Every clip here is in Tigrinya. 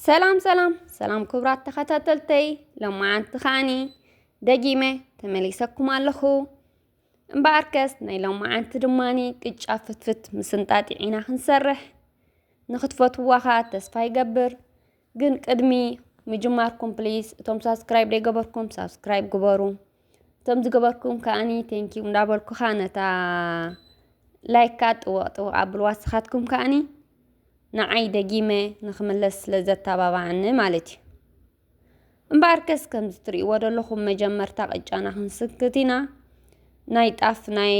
ሰላም ሰላም ሰላም ክብራት ተኸታተልተይ ሎማዓንቲ ከዓኒ ደጊመ ተመሊሰኩም ኣለኹ እምበኣርከስ ናይ ሎማዓንቲ ድማኒ ቅጫ ፍትፍት ምስንጣጢዕ ኢና ክንሰርሕ ንክትፈትዋ ከዓ ተስፋ ይገብር ግን ቅድሚ ምጅማርኩም ፕሊስ እቶም ሳብስክራይብ ዘይገበርኩም ሳብስክራይብ ግበሩ እቶም ዝገበርኩም ከዓኒ ቴንኪዩ እንዳበልኩ ከዓ ነታ ላይክ ከዓ ጥወቕ ጥወቕ ኣብልዋ ንስኻትኩም ከዓኒ ንዓይ ደጊመ ንክምለስ ስለ ዘተባባዓኒ ማለት እዩ እምበኣርከስ ከምዚ ትርእይዎ ዘለኹም መጀመርታ ቅጫና ክንስክት ኢና ናይ ጣፍ ናይ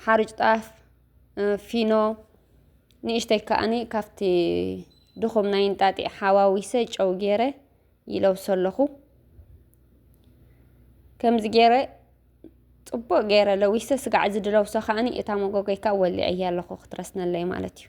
ሓርጭ ጣፍ ፊኖ ንእሽተይ ከኣኒ ካብቲ ድኹም ናይ እንጣጢዕ ሓዋዊሰ ጨው ገይረ ይለብሶ ኣለኹ ከምዚ ገይረ ፅቡቅ ገይረ ለዊሰ ስጋዕ እዚ ድለብሶ ከኣኒ እታ መጎጎይ ከዓ ወሊዐያ ኣለኹ ክትረስነለይ ማለት እዩ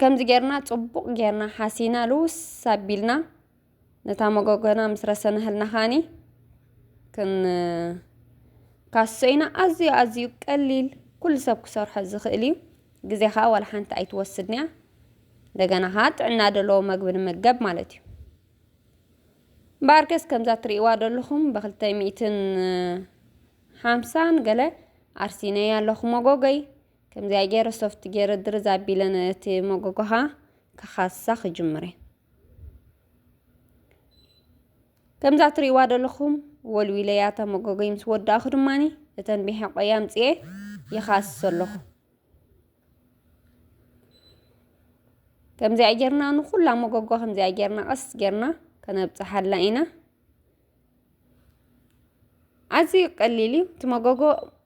ከምዚ ጌርና ጽቡቕ ጌርና ሓሲና ልውስ ኣቢልና ነታ መጎጎና ምስ ረሰናህልና ኻኒ ክንካሶ ኢና። ኣዝዩ ኣዝዩ ቀሊል ኩሉ ሰብ ክሰርሖ ዝኽእል እዩ። ግዜ ከዓ ዋላ ሓንቲ ኣይትወስድን እያ። እንደገና ከዓ ጥዕና ዘለዎ መግቢ ንመገብ ማለት እዩ። እምበኣርከስ ከምዛ እትርእይዋ ዘለኹም ብክልተ ሚእትን ሓምሳን ገለ ኣርሲነያ ኣለኹ መጎጎይ ከምዚኣ ገይረ ሶፍት ገይረ ድርዝ ኣቢለ ነቲ መጎጎኻ ክኻሳ ክጅምር ከምዛ እትርእይዋ ዘለኹም ወልዊለያ እታ መጎጎይ ምስ ወዳእኹ ድማኒ እተን ብሕቆይ ኣምፅኤ ይኻስስ ኣለኹ ከምዚኣ ጌርና ንኹላ መጎጎ ከምዚኣ ጌርና ቀስ ጌርና ከነብጽሓላ ኢና ኣዝዩ ቀሊል እዩ እቲ መጎጎ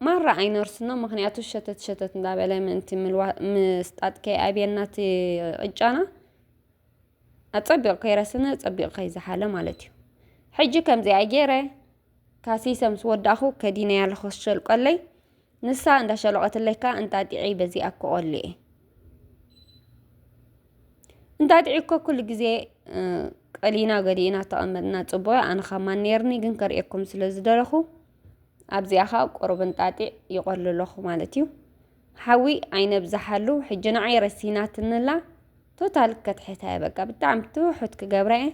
ማራ ኣይነርስኖ ምክንያቱ ሸተት ሸተት እንዳበለ ምእንቲ ምስጣጥ ከይኣብየና እቲ ቅጫና ኣጸቢቑ ከይረስነ ጸቢቑ ከይዝሓለ ማለት እዩ ሕጂ ከምዚኣ ገይረ ካሲሰ ምስ ወዳእኹ ከዲነያ ለኸሸልቀለይ ንሳ እንዳሸሎቀትለይ ከኣ እንጣጢዕይ በዚኣ እኮ ቆሊኤ እንጣጢዕ እኮ ኩሉ ግዜ ቀሊና ገዲእና ተቐመጥና ጽቡቕ ኣነ ካብ ማን ነይርኒ ግን ከርእየኩም ስለ ዝደለኹ ኣብዚኣ ከዓ ቁሩብ እንጣጢዕ ይቆሉ ኣለኹ ማለት እዩ ሓዊ ኣይነብዛሓሉ ሕጂ ንዓይ ረሲናትንላ ቶታል ከትሕታ እየ በቃ ብጣዕሚ ትውሑት ክገብራ እየ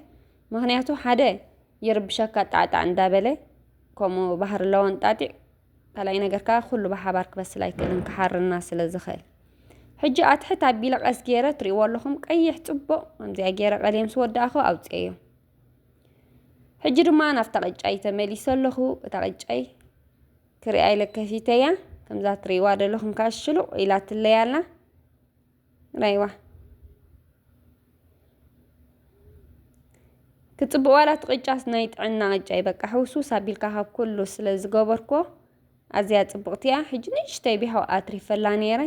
ምክንያቱ ሓደ ይርብሸካ ጣዕጣዕ እንዳበለ ከምኡ ባህሪ ኣለዎ እንጣጢዕ ካልኣይ ነገር ከኣ ኩሉ ብሓባር ክበስል ኣይክእልን ክሓርና ስለ ዝኽእል ሕጂ ኣትሕት ኣቢለ ቀስ ገይረ ትሪእዎ ኣለኹም ቀይሕ ጽቡቕ ከምዚኣ ገይረ ቀልየ ምስ ወዳእኹ ኣውፅኤዮ ሕጂ ድማ ናብታ ቅጫይ ተመሊሰ ኣለኹ እታ ቅጫይ ክሪኣ ኢለ ከፊተያ ከምዛ ትሪእዋ ዘለኹም ከዓ ሽሉቕ ኢላትለይ ኣላ ራይዋ ክጽብቅ ዋላ እቲ ቅጫስ ናይ ጥዕና ቅጫ እዩ በቃ ሕውስውስ ኣቢልካ ካብ ኩሉ ስለ ዝገበርኮ ኣዝያ ጽብቕቲ እያ ሕጂ ንእሽተይ ቢያው ኣትሪፈላ ነይረ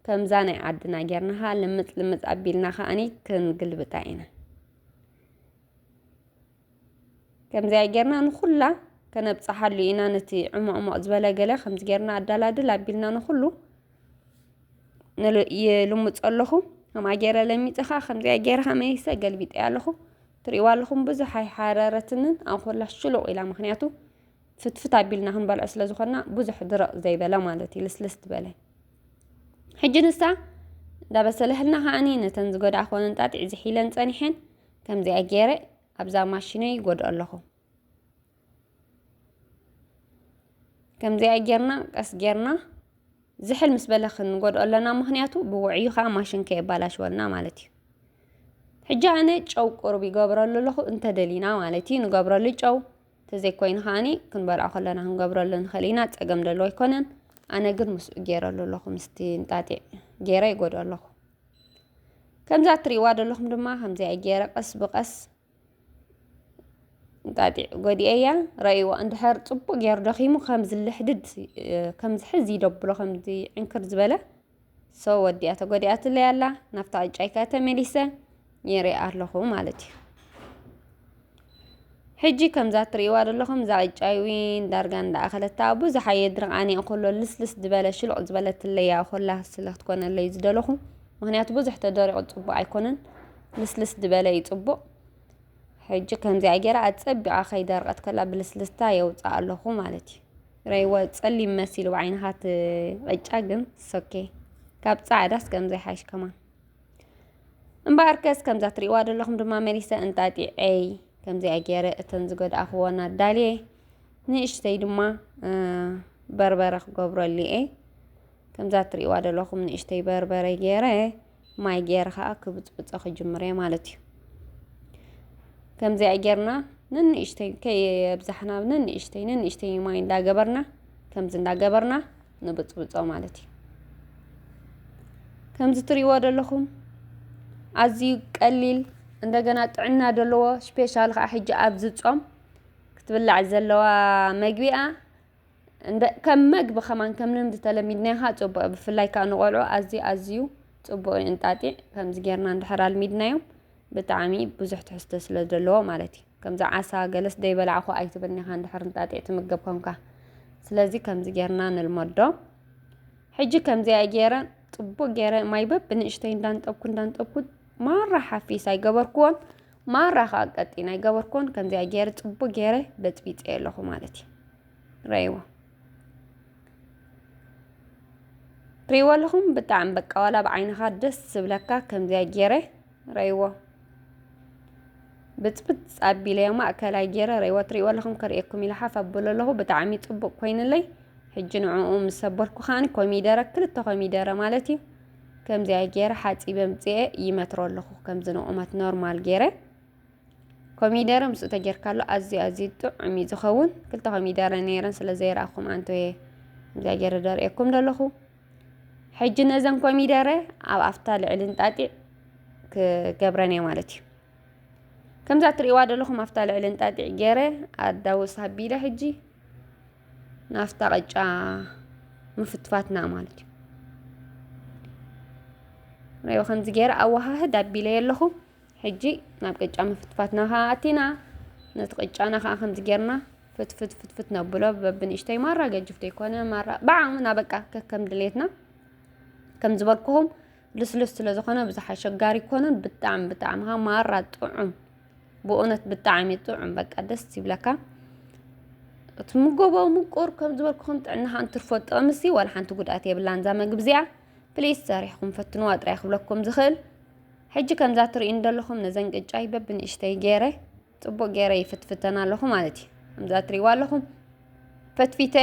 ከምዛ ናይ ዓድና ጌርና ከዓ ልምጽ ልምጽ ኣቢልና ከዓኒ ክንግልብጣ ኢና ከምዚኣ ጌርና ንኹላ ከነብጽሓሉ ኢና ነቲ ዕሞቕሞቕ ዝበለ ገለ ከምዚ ጌርና ኣዳላድል ኣቢልና ንኹሉ ይልምጾ ኣለኹ ከምኣ ገይረ ለሚጸ ከዓ ከምዚኣ ገይረ ሃመይሰ ገልቢጠያ ኣለኹ ትርእይዋ ኣለኹም ብዙሕ ኣይሓረረትንን ኣንኮላ ሽሉቕ ኢላ ምክንያቱ ፍትፍት ኣቢልና ክንበልዖ ስለ ዝኾንና ብዙሕ ድረቕ ዘይበለ ማለት እዩ ልስልስ ዝበለ ሕጂ ንሳ እንዳበሰለህልና ከዓኒ ነተን ዝጎድኣ ኮነ እንጣጢዕ ዝሒለን ጸኒሐን ከምዚኣ ገይረ ኣብዛ ማሽነይ ይጎድኦ ኣለኹ ከምዚኣ ጌርና ቀስ ጌርና ዝሕል ምስ በለ ክንጎድኦ ኣለና ምክንያቱ ብውዕዩ ከዓ ማሽን ከየባላሽወልና ማለት እዩ ሕጂ ኣነ ጨው ቁሩብ ይገብረሉ ኣለኹ እንተደሊና ማለት እዩ ንገብረሉ ጨው ተዘይኮይኑ ከዓኒ ክንበልዖ ከለና ክንገብረሉ ንኽእል ኢና ፀገም ደሎ ኣይኮነን ኣነ ግን ምስኡ ገይረሉ ኣለኹ ምስቲ እንጣጢዕ ገይረ ይጎድኦ ኣለኹ ከምዛ እትሪእዋ ዘለኹም ድማ ከምዚኣ ገይረ ቀስ ብቀስ እንጣጢዕ ጎዲኤያ ረእይዎ እንድሕር ፅቡቅ ገይሩ ደኺሙ ከምዚ ልሕድድ ከምዚ ሕዚ ይደብሎ ከምዚ ዕንክር ዝበለ ሰው ወዲኣ ተጎዲኣትለይ ኣላ ናብታ ዕጫይካ ተመሊሰ ነይረ ኣለኹ ማለት እዩ። ሕጂ ከምዛ ትርእይዋ ዘለኹም እዛ ቅጫ ዊን ዳርጋ እንዳኣኸለታ ብዙሕ ኣየ ድርቃን እየ ኮሎ ልስልስ ዝበለ ሽሉቕ ዝበለትለይ እያ ኮላ ስለ ክትኮነለይ ዝደለኹ ምክንያቱ ብዙሕ ተደሪቑ ፅቡቕ ኣይኮነን ልስልስ ዝበለ እዩ ፅቡቕ ሕጂ ከምዚኣ ገይራ ኣፀቢቓ ከይደርቐት ከላ ብልስልስታ የውፅኣ ኣለኹ ማለት እዩ ረይዋ ፀሊም መሲሉ ብዓይንኻ እቲ ቅጫ ግን ሶኬ ካብ ፃዕዳስ ከምዚ ይሓይሽ ከማን እምበኣርከስ ከምዛ ትሪእዋ ዘለኹም ድማ መሊሰ እንጣጢዐይ ከምዚኣ ገይረ እተን ዝገድኣኽወን ኣዳልየ ንእሽተይ ድማ በርበረ ክገብረሉ እየ ከምዛ ትሪእዋ ዘለኹም ንእሽተይ በርበረ ገይረ ማይ ገይረ ከዓ ክብፅብፆ ክጅምር እየ ማለት እዩ ከምዚኣ ጌርና ንንእሽተይ ከየብዛሕና ንንእሽተይ ንንእሽተይ ማይ እንዳገበርና ከምዚ እንዳገበርና ንብጽብጾ ማለት እዩ ከምዚ ትሪእዎ ዘለኹም ኣዝዩ ቀሊል እንደገና ጥዕና ዘለዎ ስፔሻል ከዓ ሕጂ ኣብዚ ጾም ክትብላዕ ዘለዋ መግቢኣ ከም መግቢ ከማን ከም ልምዲ ተለሚድናዮ ከዓ ፅቡቅ ብፍላይ ከዓ ንቆልዑ ኣዝዩ ኣዝዩ ፅቡቅ እዩ እንጣጢዕ ከምዚ ጌርና እንድሕር ኣልሚድናዮም ብጣዕሚ ብዙሕ ትሕዝቶ ስለ ዘለዎ ማለት እዩ። ከምዚ ዓሳ ገለስ ደይበላዕኹ ኣይትብልኒ ኢኻ እንድሕር እንጣጢዕ ትምገብ ኮንካ። ስለዚ ከምዚ ጌርና ንልመዶ። ሕጂ ከምዚኣ ጌረ ጽቡቅ ጌረ ማይ በብንእሽተይ እንዳንጠብኩ እንዳንጠብኩ ማራ ሓፊስ ኣይገበርክዎን ማራ ከዓ ቀጢን ኣይገበርክዎን ከምዚኣ ጌረ ጽቡቅ ጌረ በጽቢጸ ኣለኹ ማለት እዩ ረይዎ ሪዎ ኣለኹ ብጣዕሚ በቃ ዋላ ኣብ ዓይንኻ ደስ ዝብለካ ከምዚኣ ገይረ ረይዎ ብፅብፅ ኣቢለዮ ማእከላይ ገይረ ረይዎ ትሪእዎ ኣለኹም ከርእየኩም ኢለ ሓፍ ኣብሎ ኣለኹ ብጣዕሚ ፅቡቅ ኮይኑለይ ሕጂ ንዕኡ ምስ ሰበርኩ ከዓኒ ኮሚደረ ክልተ ኮሚደረ ማለት እዩ ከምዚኣ ገይረ ሓፂበ ምፅኤ ይመትሮ ኣለኹ ከምዚ ንቑመት ኖርማል ገይረ ኮሚደረ ምስኡ ተጌርካሉ ኣዝዩ ኣዝዩ ጥዑም እዩ ዝኸውን ክልተ ኮሚደረ ነይረን ስለ ዘይረኣኹም ኣንቶየ እዚኣ ገይረ ደርእየኩም ዘለኹ ሕጂ ነዘን ኮሚደረ ኣብ ኣፍታ ልዕሊ እንጣጢዕ ክገብረን እየ ማለት እዩ ከምዛ እትርእዋ ዘለኹም ኣፍታ ልዕሊ እንጣጢዕ ገይረ ኣዳውስ ኣቢለ ሕጂ ናፍታ ቅጫ ምፍትፋትና ማለት እዩ ሪኦ ከምዚ ገይረ ኣወሃህድ ኣቢለ የለኹ ሕጂ ናብ ቅጫ ምፍትፋትና ከኣ ኣቲና። ነቲ ቅጫና ከኣ ከምዚ ጌርና ፍትፍት ፍትፍት ነብሎ በብንእሽተይ ማራ ገጅፍ ዘይኮነ ማራ ብዓቕምና በቃ ከከም ድሌትና ከም ዝበልኩኹም ልስሉስ ስለ ዝኾነ ብዙሕ ኣሸጋሪ ኮኑን ብጣዕሚ ብጣዕሚ ካ ማራ ጥዑም ብእውነት ብጣዕሚ ጥዑም በቃ ደስ ይብለካ እቲ ምጎቦ ምቁር ከም ዝበልኩኹም ጥዕናኻ እንትርፎ ጥቕምሲ ዋላ ሓንቲ ጉድኣት የብላን እዛ መግቢ እዚኣ ፕሊስ ሰሪሕኩም ፈትንዋ ጥራይ ክብለኩም ዝኽእል ሕጂ ከምዛ ትርእዩን ዘለኹም ነዘን ቅጫይ በብንእሽተይ ገይረ ፅቡቅ ገይረ ይፍትፍተን ኣለኹ ማለት እዩ ከምዛ ትርእይዋ ኣለኹም ፈትፊተ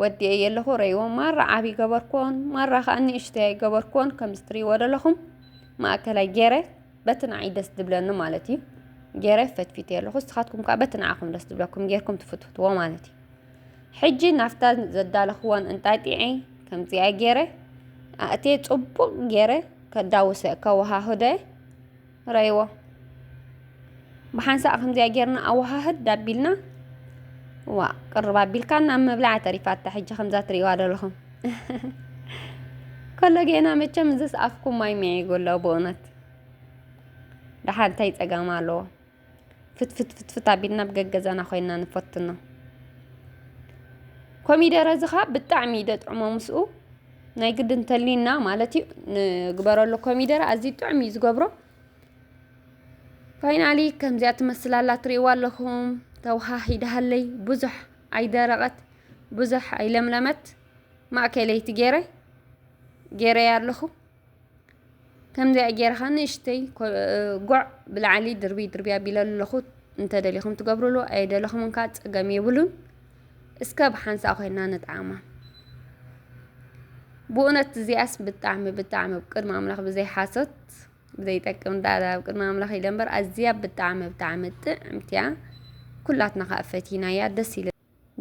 ወዲኤ የለኹ ረይዎ ማራ ዓብዪ ገበርኩዎን ማራ ከዓ ንእሽተይ ገበርኩዎን ከምዚ ትርእይዎ ዘለኹም ማእከላይ ገይረ በቲ ንዓይ ደስ ዝብለኒ ማለት እዩ ገይረ ፈትፊተ ኣለኹ ንስኻትኩም ከዓ በቲ ንዓኹም ደስ ዝብለኩም ጌርኩም ትፍትፍትዎ ማለት እዩ ሕጂ ናብታ ዘዳለኽወን እንጣጢዕ ከምዚኣ ገይረ ኣእትየ ጽቡቕ ገይረ ከዳውሰ ከወሃህደ ረይዎ ብሓንሳእ ከምዚኣ ጌርና ኣወሃህድ ዳቢልና ዋ ቅርብ ኣቢልካ ናብ ምብላዕ ተሪፋታ ሕጂ ከምዛ ትሪእዋ ዘለኹም ከሎ ጌና መቸም እዝስ ኣፍኩም ማይ ሚዒጉ ኣሎ ብእውነት ደሓር እንታይ ጸገም ኣለዎ ፍትፍትፍት ኣቢልና ኣብ ገገዛና ኮይና ንፈትኖ ኮሚደረ እዚ ከዓ ብጣዕሚ እዩ ደጥዕሞ ምስኡ ናይ ግዲ እንተሊና ማለት እዩ ንግበረሉ ኮሚደረ ኣዝዩ ጥዑም እዩ ዝገብሮ ፋይናሊ ከምዚኣ ትመስል ኣላ ትሪእዋ ኣለኹም ተወሃሂዳሃለይ ብዙሕ ኣይደረቐት ብዙሕ ኣይለምለመት ማእከለይቲ ገይረ ገይረያ ኣለኹ ከምዚኣ ጌርኻ ንእሽተይ ጓዕ ብላዕሊ ድርብይ ድርብይ ኣቢለ ኣለኹ እንተደሊኹም ትገብርሉ ኣይደለኹምን ከዓ ፀገም የብሉን እስከ ብሓንሳእ ኮይና ንጣዕማ ብእውነት እዚኣስ ብጣዕሚ ብጣዕሚ ኣብ ቅድሚ ኣምላኽ ብዘይ ሓሶት ብዘይ ጠቅም ዳዳ ኣብ ቅድሚ ኣምላኽ ኢለ እምበር ኣዝያ ብጣዕሚ ብጣዕሚ ጥዕምቲ እያ ኩላትና ከዓ ፈቲናያ ደስ ኢሉ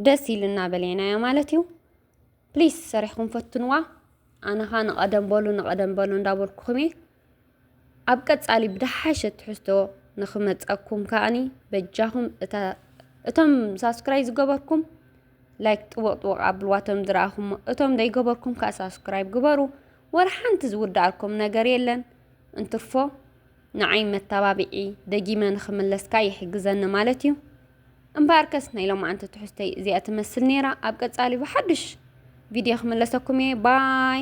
ደስ ኢሉና በለናዮ ማለት እዩ ፕሊስ ሰሪሕኩም ፈትንዋ ኣነ ከኣ ንቀደም በሉ ንቀደም በሉ እንዳበልኩኩም እየ ኣብ ቀጻሊ ብደሓሸ ትሕዝቶ ንክመጸኩም ከኣኒ በጃኹም እቶም ሳብስክራይብ ዝገበርኩም ላይክ ጥወቅ ጥወቅ ኣብልዋ እቶም ዝረኣኹሞ እቶም ዘይገበርኩም ከኣ ሳብስክራይብ ግበሩ ወላ ሓንቲ ዝውድኣልኩም ነገር የለን እንትርፎ ንዓይ መተባብዒ ደጊመ ንክምለስካ ይሕግዘኒ ማለት እዩ እምበኣርከስ ናይ ሎማዓንቲ ትሕዝቶይ እዚኣ ትመስል ነይራ። ኣብ ቀጻሊ ብሓድሽ ቪድዮ ክምለሰኩም እየ ባይ